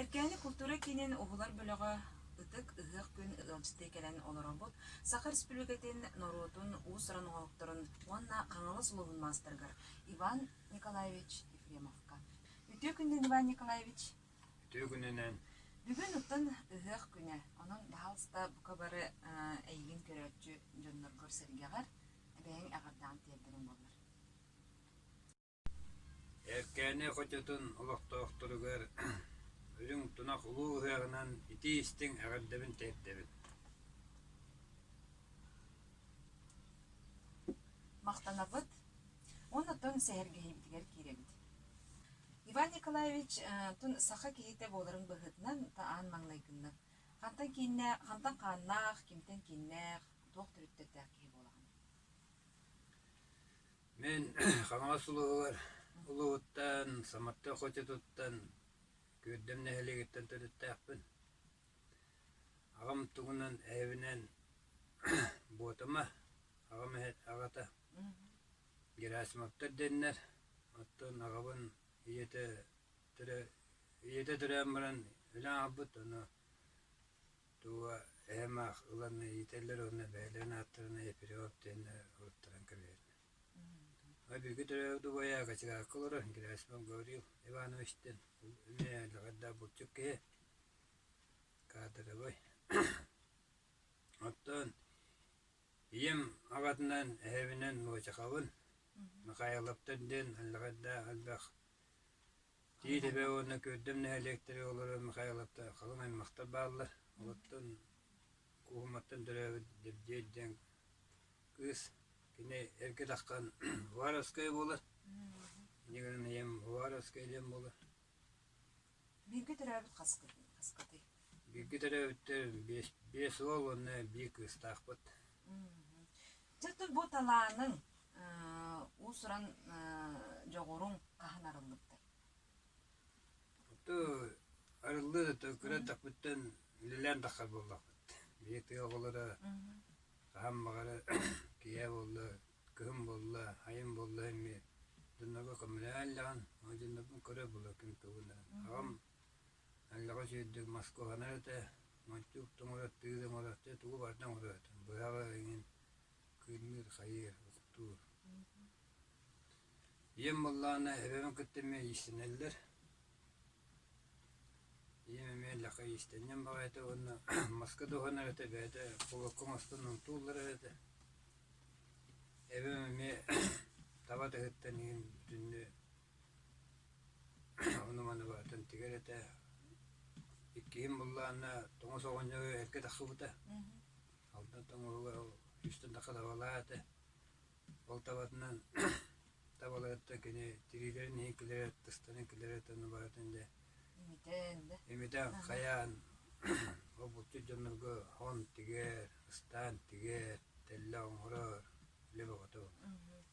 Эркээни култуура киинин уһулар бөлөҕө «Ытык ыһыах күн» ыалдьытыы кэлэн олорорбут Саха Өрөспүүбүлүкэтин норуотун уус-уран оҥоһуктарын уонна Хаҥалас улууһун маастарыгар Иван Николаевич Ефремовка. Үтүө күннүн, Иван Николаевич! Үтүө күнүнэн! Бүгүн оттон ыһыах күнэ, онон баһаалыста бука бары эйигин көрөөччү дьонноргор, сэргэҕэр эбээн эҕэрдэҕин тиэрдэриҥ буоллар. Эркээни хочотун олохтоохторугар Үрүҥ Тунах Улуу Ыһыаҕынан итии-истиҥ эҕэрдэбин тиэрдэбин Махтанабыт уонна тоҥ сэһэргэһиибитигэр киирэбит Иван Николаевич тун саха киһитэ буоларын быһыытынан аан маҥнай гыннык хантан кииннээх хантан хааннаах кимтэн кииннээх туох төрүттээх киһи буолаҕын Мин Хаҥалас улууһугар улууһуттан, Самарта хочотуттан, Күөрдэм нэһилиэгиттэн төрүттээхпин. Аҕам тугунан эһэбинэн буотума, аҕам эһэ- аҕата Герасимовтар диэннэр. Оттон аҕабын ийэтэ төрө ийэтэ төрөөн баран өлөн аҕалбыт, ону Дууо, эһэм аах ылан иитэллэр уонна бэһэлэрин ааттарын Епиреоп диэн уруттаран кэбиһэрбин. Эбиги төрөөбүт Дубайа Качагаакка олорор Герасимов Гаврил Иванович диэн эмиэ булчут киһи, каадырабай. Оттон ийэм аҕатынан, эһэбинэн Муочахабын, Михайловтар диэн алларайда элбэх Тиитэпэ уонна Күөрдэм нэһилиэктэри олорор Михайловтар халыҥ аймахтар бааллар, олортон Куухуматтан төрөөбүт Дирдиэй диэн кыыс кини эргэ даххан Хуваровская буолар, иннигинэн ийэм Хуваровская диэн буолар. Бииргэ төрөөбүт хаска хаскытый? Бииргэ төрөөбүттэр биэс, биэс уол уонна биир кыыстаахпыт. Дьэ бу талааныҥ уус-уран дьоҕуруҥ хаһан арыллыбытай? арыллыы да кыра атахпыттан үлэлээн тахсар буоллахпыт. Биир тыа оҕолоро хаһан баҕара киһи буолла, кыһын буолла, айан буолла эмиэ дьоннорго көмөлөһө илэҕин, ол дьоннорбун көрө буолла ким тугунан. Аҕам Аллара сүүрдүк Москванан этэ, мунчуук тоҥороот, тыыр оҥороот, дьэ тугу барда оҥороотун, быһаҕа эҥин кыынныыр, хайыыр, уктуур. Ийэм буоллаҕына эбэбин кытта эмиэ иистэнэллэр. Ийэм эмиэ лэхэ иистэнньэм баҕайыта уонна маска туһанар этэ, бэйэтэ кулуупка мастан унтууллар этэ. Эбэм эмиэ таба таһыттан иһин бүтүннүү Аны-маны барытын тигэр этэ, иккиһин буллаанна тоҥус оҕонньору эргэ тахсыбыта, алтан тоҥуругар үстэн тахса табалаах этэ, ол табатынан табаларыттан кини тириилэрин иһин килэрэ тыстанан килэрэ этэ, ону барытын дьэ имитэн хайаан ол булчут дьоннорго он тигэр, ыстаан тигэр, тэллэ оҥорор, үлэ бөҕөтө.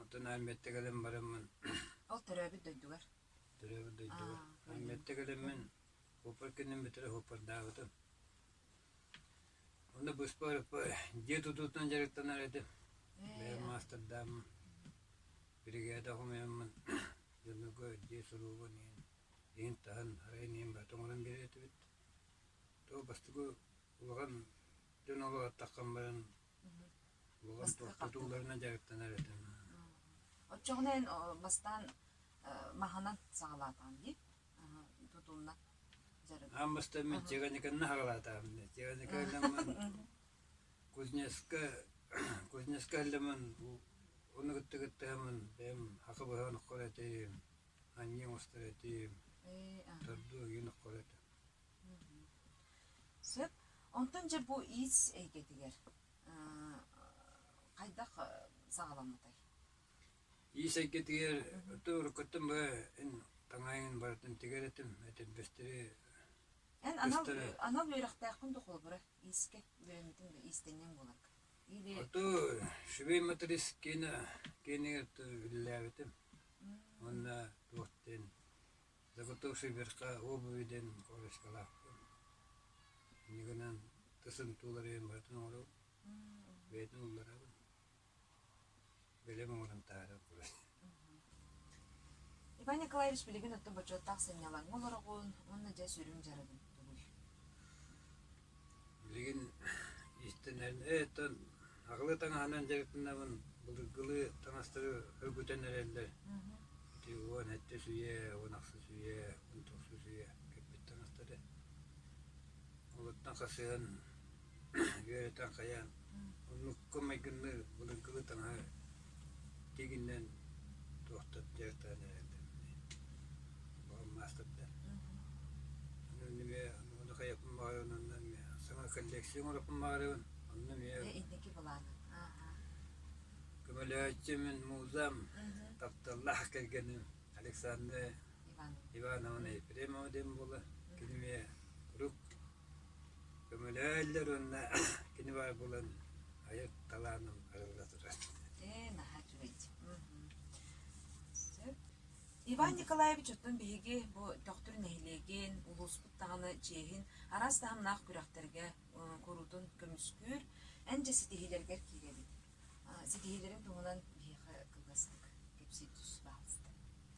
Оттон аан бүттэ кэлэн бараммын Ол төрөөбүт дойдугар. төрөөбүт дойдубар Аа, аан көрүннэ. бүттэ кэлэммин куоппар кэнним бүтэрэ куоппардаабытым. Онно быспа ырыппа дьиэ тутуутунан дьарыктанар этим. Бэйэм Ээ. маастардааммын биригээдэ хомуйаммын дьонурга дьиэ суруубун иһин иһин таһын арайан иһин бата оҥорон биэрэр этибит. Тоҕо бастакы улахан дьон олорор таххан баран Бастакытууларына дьарыктанар этим Оччоҕуна эн бастаан маһынан саҕалаатаҕым дии тутунна Аан бастаан мин техниканы саҕалаатаҕым дии техника ыллыммын Кузнецка Кузнецка ыллыммын ону кытта кыттыһаммын бэйэм ака быһаҕын оххор этим аньыы оҥостор этим тордуу ойуун оххор этим Сөп. Онтон дьэ бу иис эйгэтигэр хайдах саҕаламмытай? Иис эйгэтигэр уруккуттан бу эн таҥаайын барытын тигэр этим, этэрбэстэри эн анал анал үөрэхтээхпин да холобура иискэ үөрэммитим да иистэнньэҥ буоларга. Или Оту живой матрис киэнигэр биллээбитим. Уонна туох диэн Заготовший верха ол бүөйдээн повесткалаахпын. Инньэ гынан тысын тууларыйан барытын оҥору бэйэтин уулларабын. Бэлэм оҥорон таһаарар буолар Иван Николаевич билигин оттон бочуоттаах сынньалаҥҥа олороҕун уонна дьэ сүрүн дьарыгын тугуй? Билигин иистэнэн эттэн аҕылыы таҥаһынан дьарыктанабын, былыргылыы таҥастары өргүтэн эрэллэр. Ити уон эттис үйэ, уон ахсыс үйэ, уон тохсус үйэ кэлбит таҥастары. Олортон хасыһан үөрэтэн-хайаан Оннукка майгынныыр, былыргылыы таҥаһы тигинэн туохтан дьарыктаан эрэллэринэ баҕам маастардар. Аны эмиэ ону хайыахпын баҕарабын онно эмиэ саҥа коллекция оҥоруохпун баҕарабын. Онно эмиэ Э, инники былаана. Аха. көмөлөөччү мин муузам, тапталлаах кэргэним Александра Ивановна. Ивановна Ефремова диэн буолар. Кини эмиэ куруук Көмөлөһөллөр уонна кини баар буолан айар талааным арылла турар Иван Николаевич оттон биһиги бу Төхтүр нэһилиэгин, улууспут даҕаны чиэһин араас таһымнаах күрэхтэргэ куруутун көмүскүүр, эн дьэ ситиһиилэригэр киирэбит. Ситиһиилэрин туһунан биһиэхэ кылгастык кэпсии түс баҕаста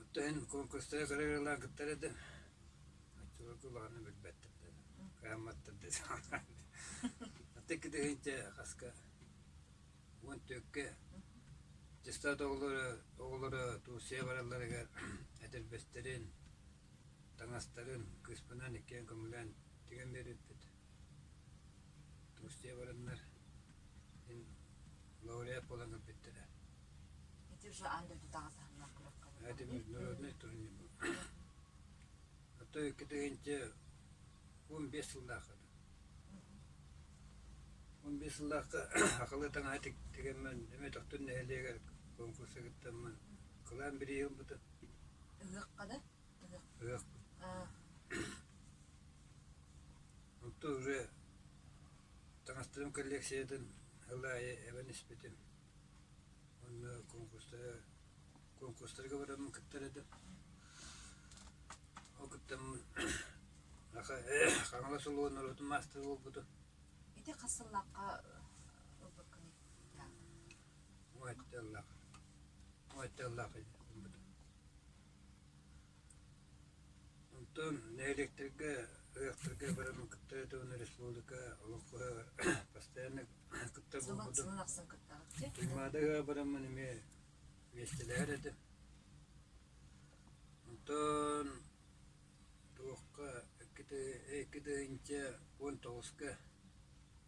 Оттон эн куонкурстары кыраыаралаан кыттара да, оччолорго улаҕаны билбэттэр да, кыһамматтар да аттык кытыһынча хаска уон түөккэ дьыссаат оҕолоро оҕолоро Турция баралларыгар этэрбэстэрин, таҥастарын кыыспынан иккиэн көмүлээн тигэн биэрбиппит Турция бараннар мин лауреат буолан өлбүттэрэ. Международный турнир буолбута. Оттон икки тыһыынча уон биэс сыллаахха да. Уон биэс сыллаахха Ахылы Таҥаһа тигэммин Өмөтөхтүн нэһилиэгэр конкурса кыттаммын кылаан бирииһи ылбытым. Онто уже таҥастарым коллекциятын ыл аайы эбэн испитим уонна куонкурстары куонкурстарга бараммын кытта эрэдим. Ол кыттаммын Хаҥалас улууһун норуотум маастара буолбутум. Ити хас сыллаахха ылбыккыный? Ол айта ыллаах. Ол айта ыллаах буолбутум. Онтон нэһилиэктэргэ, айахтарга барарым кытта даҕаны республика олоҥхоһо постоянно кыттар буолбутум. Туймадаҕа бараммын эмиэ миэстэлэһэр этим. Онтон туохха, икки тыһыынча уон тоҕуска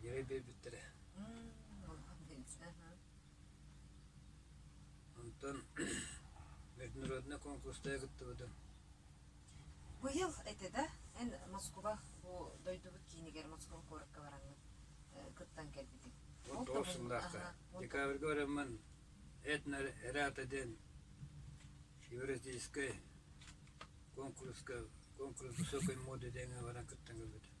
Ньирэй биэрбиттэрэ онтон международнай куонкурустайа кыттыбытым быйыл этэ да эн Москуба бу дойдубут киинигэр Москуба куоракка бараннын кыттан кэлбитиҥ он тоҕус сыллаахха декабрьга бараммын этнор эрата диэн всероссийскай куонкуруска куонкурс высокой моды диэҥҥэ баран кыттан кэлбитим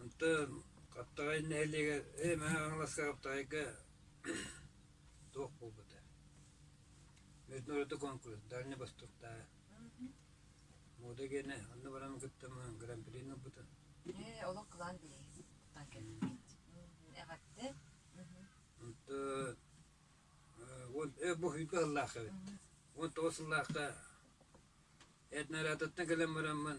Онтон Хаптаҕай нэһилиэгэр Ээ, Мэһэ Хаҥаласка Хаптаҕайга туох буолбута? Мүөтүн ураты куонкурус Дальнай Востоктааҕы. Мууда гиэнэ онно баран кыттаммын гран-прин ылбытым. Ээ, олох кылаан биһи куттаан кэлбиппит. Эҕэрдэ. Онтон э, уон э, бу үүнбүт сыллаах эбит. Уон тоҕус сыллаахха Этнарыататтан кэлэн бараммын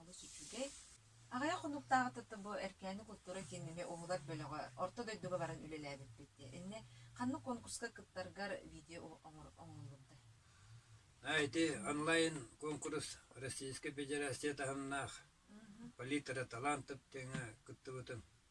Олус үчүгэй. Аҕыйах хонуктааҕытыттан бу Эркээни култуура киинини уһулар бөлөҕө Орто дойдуга баран үлэлээбиппит диye. Иннэ ханнык конкурска кыттаргар видео оҥоһуллубута. Эти онлайн конкурс Российскай Федерация таһымнаах Палитра талант таптыҥа кыттыбытым.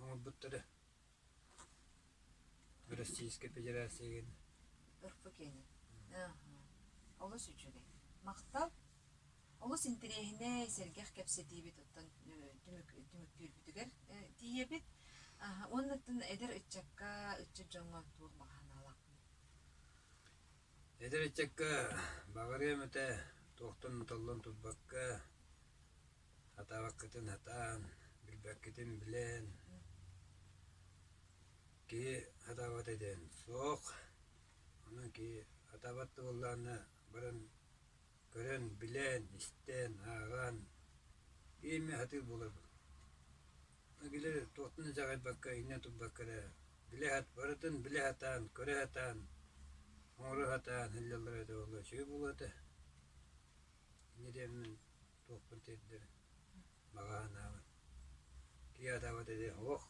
оҥорбуттара Российскай Федерациятын олус үчүгэй махтал олус интэриэһинэй сэргэх кэпсэтииби туттан түмүктүүрбүтүгэр тиийэбит уонна эдэр ыччакка ыччат дьоҥҥо туох баҕаһынаалаахпыт эдэр ыччакка баҕарыам этэ туохтан уталлан турбакка Атаабаккытын атаан, билбэккитин билэн, киһи атаабат этэн суох. Онон киһи атаабат да буоллаҕына баран көрөн, билэн, истэн, ааҕан иэмэ сатыыр буолар. Кинилэр туохтан да дьаҕайбакка, иҥнэн турбакка эрэ билэ барытын билэ сатаан, көрө сатаан, оҥоро сатаан сылдьаллара да буоллар үчүгэй буолуо этэ. Ини диэммин туохпун тиэрдэрэ баҕа санаабын киһи атаабат этэ оһох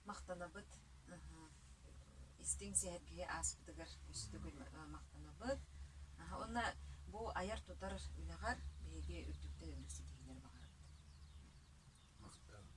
махтанабыт истиҥ сэһэр киһи ааспытыгар үстүгүн махтанабыт уонна бу айар тутар үлэҕэр биһиги үрдүктэн үрдүк ситиһиилэри баҕарабыт махтаабын